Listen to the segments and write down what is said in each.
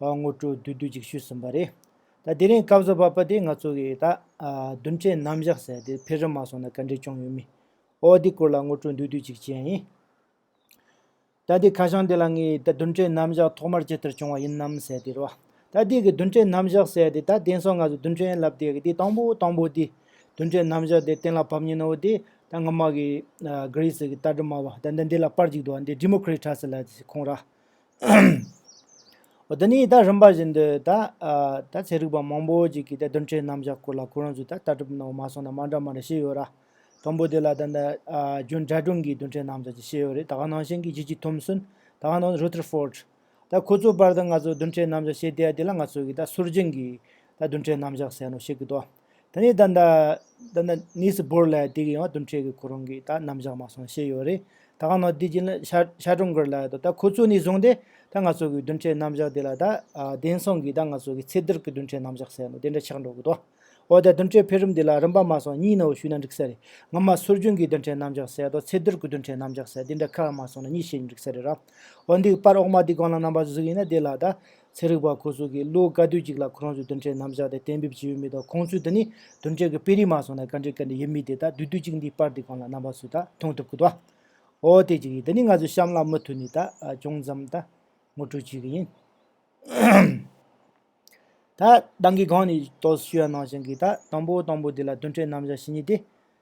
དངོས་སྤྲོ་བསྡུ་བསྡུ་ཅིག་ཞུས་ཟིན་པ་རེད། ད་དེ་རིང་སྐབས་བཟོ་པ་པ་དེ་ང་ཚོ་གི་ད་བདུན་ཆའི་ནམ་བཞག་ཟེར་ཡ་དེ་ཕེ་ཧྲི་མ་སོང་ན་ག་འདྲས་སྐྱོང་ཡོད་མི། ཨོ་དེ་སྐོར་ལ་དངོས་སྤྲོ་བསྡུ་བསྡུ་ཅིག་བྱས་ཡིན། ད་དེ་ཁ་བྱང་དེ་ལ་ངས་ད་བདུན་ཆའི་ནམ་བཞག་ཐོག་མར་ཇི་ལྟར་བྱུང་བ་ཡིན་ནམ་ཟེར་དེ་རོ། ད་དེ་གི་བདུན་ཆའི་ནམ་བཞག་ཟེར་དེ་ད་དེང་སང་ང་ཚོ་བདུན་ཆའི་ལབ་དེ་གི་དེ་དང་པོ་དང་པོ་དེ། བདུན་ཆའི་ནམ་བཞག་དེ་གཏན་ལ་ཕབ་ཉིན་ཨོ་དེ་ད་སྔ་མ་གི། Greece གི་རྟ་དྲི་མ་བ་ད་འདི་འདི་ལ་པར་ཅིག་འདུག་འདི Democrat ཁྲ་ཟེར་ལ་ཁོང་ར། འདི་ནི་ད་རིམ་པ་བཞིན་དུ་ད་ཚེ་རིག་པ་མང་པོ་ཅིག་གིས་ད་བདུན་ཕྲན་རྣམ་བཞག་སྐོར་ལ་ཁོ་རང་ཚོས་ད་ལྟ་གྲུབ་ནའོ་མ་སོང་ན་མ་འདྲ་མ་འདྲ་ཤེས་ཡོད་ར། དང་པོ་དེ་ལ་ད་ནི་རྒྱུན་དྲ་སྒྲུང་གི་བདུན་ཕྲན་རྣམ་བཞག་ཅིག་ཤེས་ཡོད་རེད་ད་ག་ནང་བཞིན་གྱི་ཇི་ཇི་ཐོམ་སོན་ད་ག་ནང་རུ་ཐེར་ཕོར། ད་ཁོ་ཚོའི་བར་དུ་ང་ཚོས་བདུན་ཕྲན་རྣམ་བཞག་བཤད་དེ་ཡ་དེ་ལ་ང་ཚོ་གིས་ད་སུར་རྗེན་གྱི་ད་བདུན་ཕྲན་རྣམ་བཞག་ཟེར་ནོ་ཤེས་གི་དོ། ད་ནི་ད། ད་ནི་གནས་སུ་བོར་ལ་དེ་གི་ཡང་དོན་འཕྲལ་གི་ཁོ་རང་གིས་ད་རྣམ་གཞག་མ་སོང་ཤེས་ཡོད་རེད། ད་གང་ནའོ་དེ་བྱིན་ལ་ཤ་ཀྲོང་དགོས་ལ་དོ་ད་ཁོ་ཚོས་ནི་བཟུང་སྟེ་ད་ང་ཚོ་གི་དོན་འཕྲལ་རྣམ་གཞག་དེ་ལ་ད། དེང་སང་གི་ད་ང་ཚོ་གི་ཚེ་འདིར་གི་དོན་འཕྲལ་རྣམ་གཞག་ཟེར་ནོ་དེ་འདྲ་ཆགས་འགྲོ་གི་འདུག་འོ་ད་དོན་འཕྲལ་འཕེལ་རིམ་དེ་ལ་རིམ་པ་མ་སོང་གཉིས་ནའོ་ཞུས་ན་འགྲིག་ས་རེད་ང་མ་སུར་རྒྱུན་གྱི་དོན་འཕྲལ་རྣམ་གཞག་ཟེར་དང་ཚེ་འདིར་གི་དོན་འཕྲལ་རྣམ་གཞག་ཟེར་དེ་འདྲ་ག་ལ་མ་སོང་ན་གཉིས་བཤད་ཀྱི་འགྲིག་ས་རེད་ར། འོ་འདི་པར་འོག་མ་དེ་གང་ལ་རྣམ་པ་བཟོ་གི་ཡིན་ན་དེ་ལ་ད། ཚན་རིག་པ་ཁོ་ཚོ་གིས་བློ་དཀར་དུས་གཅིག་ལ་ཁོ་རང་ཚོའི་དོན་འབྲས་རྣམ་བཞག་དེ་གཏན་འབེབས་བྱེད་ཡོད་མེད་དང་ཁོང་ཚོས་འདི་ནི་དོན་འབྲས་ཀྱི་དཔེ་རིས་མ་སོང་ན་བཀའ་འདྲི་ག་འདྲ་ཡོད་མེད་དེ་དག་དུས་དུས་གཅིག་འདིའི་པར་འདི་གང་ལ་གནང་བ་ཚོས་ད་མཐོང་ཐུབ་གི་འདུག་ཨོ་དེ་གཅིག་ཡིན་འདི་ནི་ང་ཚོས་གཤམ་ལ་མུ་མཐུད་ནས་ད་ཅུང་ཙམ་ད་ངོ་སྤྲོད་བྱེད་གི་ཡིན། ད་བདག་གིས་སྒང་ནས་རྟོགས་ཞུ་ཡ་གནང་བཞིན་གི་ད་དང་པོ་དང་པོ་འདི་ལ་དོན་འབྲས་རྣམ་བཞག་ཞིག་རྙེད་དེ།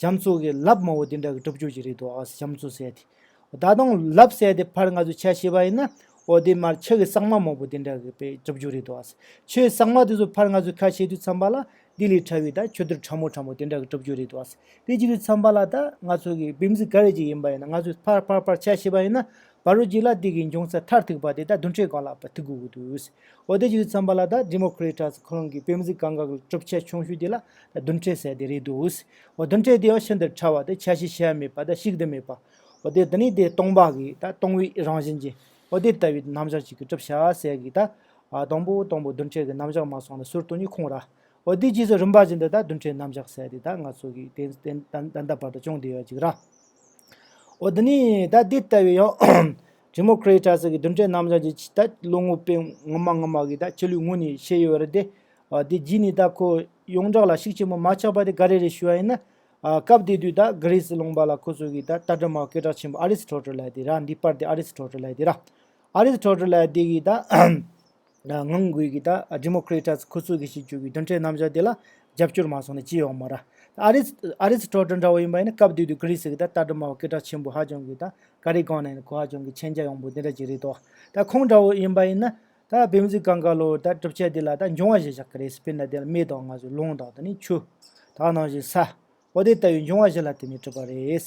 བྱམས་གསོ་གི་ལབ་དམའ་བོ་དེ་འདྲ་གི་གྲུབ་བྱུང་ཞིག་རེད་འདུག་ཨོ་བྱམས་གསོ་ཟེར་དེ། ད་དུང་ལབ་བསད་དེ་ཕར་ང་ཚོས་ཆ་ཤེས་པ་ཡིན་ན། ཨོ་དེ་མར་ཆག་གི་སྲང་མ་མང་བོ་དེ་འདྲ་གི་པའི་གྲུབ་བྱུང་རེད་འདུག་ཨ། ཆུའི་སྲང་མ་དེ་ཚོ་ཕར་ང་ཚོས་ཁ་ཕྱེ་དུས་འཚམས་པ་ལ་དེ་ལས་ཕྲ་བའི་ད་ཆུ་ཐུར་ཕྲ་མོ་ཕྲ་མོ་དེ་འདྲ་གི་གྲུབ་བྱུང་རེད་འདུག་ཨ། དེ་ཅིག་གི་འཚམས་པ་ལ་ད་ང་ཚོ་གི་བིམ་གཟིགས་ག་རེ་ཅིག་ཡིན་པ་ཡིན་ན་ང་ཚོས་ཕར་ཕར་ཕར་ཆ་ཤེས་པ་ཡིན་ན། བ་རུ་གྱི་ལ་དེ་གའི་འབྱུང་རྩ་མཐར་ཐུག་པ་དེ་དག་བདུན་ཁྲིའི་སྒང་ལ་བ་ཐུག་གི་འོ་དུས། འོ་དེ་ཅུའི་ཚངས་པ་ལ་དག Democritus ཁོ་རང་གི་བེམ་གཟིགས་གང་གཱ་གི་གྲུབ་ཆའི་ཆུང་ཤོས་དེ་ལ་དག་བདུན་ཁྲི་ཟེར་དེ་རེད་དུས། འོ་བདུན་ཁྲི་དེའོ་ཕྱི་འདིར་ཕྲ་བ་དེ་ཆ་ཤས་ཆེ་བ་མེད་པ་དག་བཤིག་ཏུ་མེད་པ། འོ་དེ་དེ་ནི་དེ་སྟོང་པ་གི་དག་སྟོང་བའི་རང་བཞིན་གྱི་འོ་དེ་ལྟ་བུའི་རྣམ་གཞག་ཅིག་གི་གྲུབ་ཆ་ཟེར་གི་དག། དང་པོ་དང་པོ་བདུན་ཁྲི་གི་རྣམ་གཞག་མ་སོང་ལ་ཟུར་དུ་ནི་ཁོང་ར། འོ་དེའི་རྗེས་སུ་རིམ་པ་བཞིན་དུ་དག་བདུན་ཁྲིའི་རྣམ་གཞག་ཟེར་དེ་དག་ང་ཚོ་གིས་དེ་ད་ལྟ་བར་དུ་ཅུང་བདེ་བ་ཅིག་ར། འོ་འདི་ནི་ད་དེ་ལྟ་བུའི་ཡང། Democritus། གི་བསྡུར་འཕྲིན་རྣམ་བཞག་ཅིག་ཅིག་ད་བློ་ངོར་དཔེ་ངོ་མ་ངོ་མ་གི་ད་ཁྱེད་ལུས་ངོ་ནས་བཤད་ཡོད་རེད་དེ། དེ་རྗེས་ནས་ད་ཁོ་ཡོངས་གྲགས་ལ་ཤུགས་ཆེན་པོ་མ་ཆགས་པ་དེ་ག་རེ་རེ་ཞུ་བ་ཡིན་ན། སྐབས་དེ་དུས་ད་གྷི་རེ་སི་ལུང་པ་ལ་ཁོ་ཚོ་གི་ད་ལྟ་དྲི་མ་སྐད་གྲགས་ཆེན་པོ་ཨ་རིས་ཁྲོ་ཁྲོ་ལད་དེ་ར་འདི་པར་དེ་ཨ་རིས་ཁྲོ་ཁྲོ་ལད་དེ་ར། ཨ་རིས་ཁྲོ་ཁྲོ་ལད་དེ་གི་ད། ངང་སྒུག་གིས་ད Democratas ཁུ་ཚུར་གྱིས་བྱེད་རྒྱུ་གི་མདུན་གྲལ་རྣམ་གཞག་དེ་ལ་རྒྱབ་སྐྱོར་མ་སོང་ན་ཅི་ཡོང་མོད། ར་ཨ་རིས་ཨ་རིས་ཁྲོ་ཁྲོ་འདྲ་བོ་ཡིན་པ་ཡིན་ན་སྐབས་དུས་དུས་ཀི་རི་སི་གི་ད་ལྟ་དྲི་མ་བ་སྐད་གྲགས་ཆེན་པོ་ཧ་ཅང་གི་ད་ཀ་རི་སྒང་ན་ཡིན་ན་གོ་ཧ་ཅང་གི་མཁྱེན་རྒྱ་ཡངས་པོ་དེ་འདྲ་ཅིག་རེད་དོ། ད་ཁོང་འདྲ་བོ་ཡིན་པ་ཡིན་ན་ད་བེམ་རྫི་གང་ག་ལོར་ད་གྲུབ་ཆ་དེ་ལ་ད་འབྱུང་བ་ཞེས་བཞག་གི་རེད་སི་པེན་ན་དེ་ལ་མེ་དང་ང་ཚོས་རླུང་དང་ད་ནི་ཆུ། དག་ནང་བཞིན་ས། འོ་དེ་ལྟ་བུའི་འབྱུང་བ་ཞིག་ལ་དེ་ནི་གྲུབ་པ་རེད།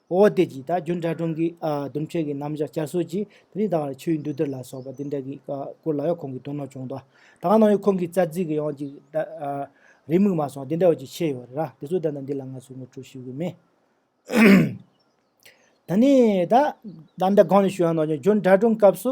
འོ་དེ་གྱིས་ད་རྒྱུན་དགྲ་གྲོང་གི་དུམ་ཆོས་ཀྱི་རྣམ་གཞག་བསྐྱར་གསོ་གྱིས་དེ་རིང་ད་བར་ཆུའི་མདུད་སྡེར་ལ་སོགས་པ་འདི་འདྲ་གི་སྐོར་ལ་ཡང་ཁོང་གིས་དོ་སྣང་བྱུང་དོ། ད་ནང་ཡང་ཁོང་གིས་རྩ་ཚིག་གི་ཡང་ཅིག་རེ་དམིགས་མ་སོང་དེ་འདྲ་བ་ཅིག་ཤེས་ཡོད་རེད་ར་དེ་ཚོ་ད་ལྟ་འདི་ལ་ང་ཚོས་ངོ་སྤྲོད་ཞུ་གི་མེད། ད་ནི་ད་ད་ལྟ་གང་ནས་ཞུ་ཡང་ནང་བཞིན་རྒྱུན་དགྲ་གྲོང་སྐབས་སུ་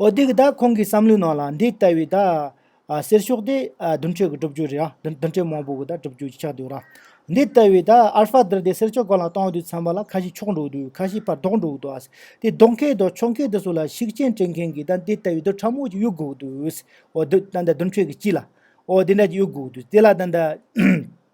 འོ་དེ་གི་ད་ཁོང་གི་བསམ་བློའི་ནང་ལ་འདི་ལྟ་བུའི་ད་གསེར་ཤོག་དེ་བདུན་ཁྲི་གི་སྒྲུབ་རྒྱུ་རེད་ཨ། བདུན་ཁྲི་མང་པོ་གི་ད་སྒྲུབ་རྒྱུ་ཆགས་འདུག་ར། འདི་ལྟ་བུའི་ད་ཨལ་ཧྥ་དར་དེ་གསེར་ཤོག་གང་ལ་བཏང་དུས་ཚང་མ་ལ་ཁ་ཞིག་ཕྱོགས་འགྲོ་འདུག་ཁ་ཞིག་པར་དོག་འགྲོ་འདུག་ཨ། དེ་དོག་མཁན་དང་ཕྱོགས་མཁན་དེ་ཚོ་ལ་ཤུགས་རྐྱེན་སྤྲད་མཁན་གི་ད་འདི་ལྟ་བུའི་དུ་ཕྲ་མོ་ཅིག་ཡོད་དགོས་འདུག་ཨོ། ད་ད་བདུན་ཁྲི་གི་སྤྱི་ལ། ཨོ་དེ་འདྲ་ཅིག་ཡོད་དགོས་འདུག་དེ་ལ་ད།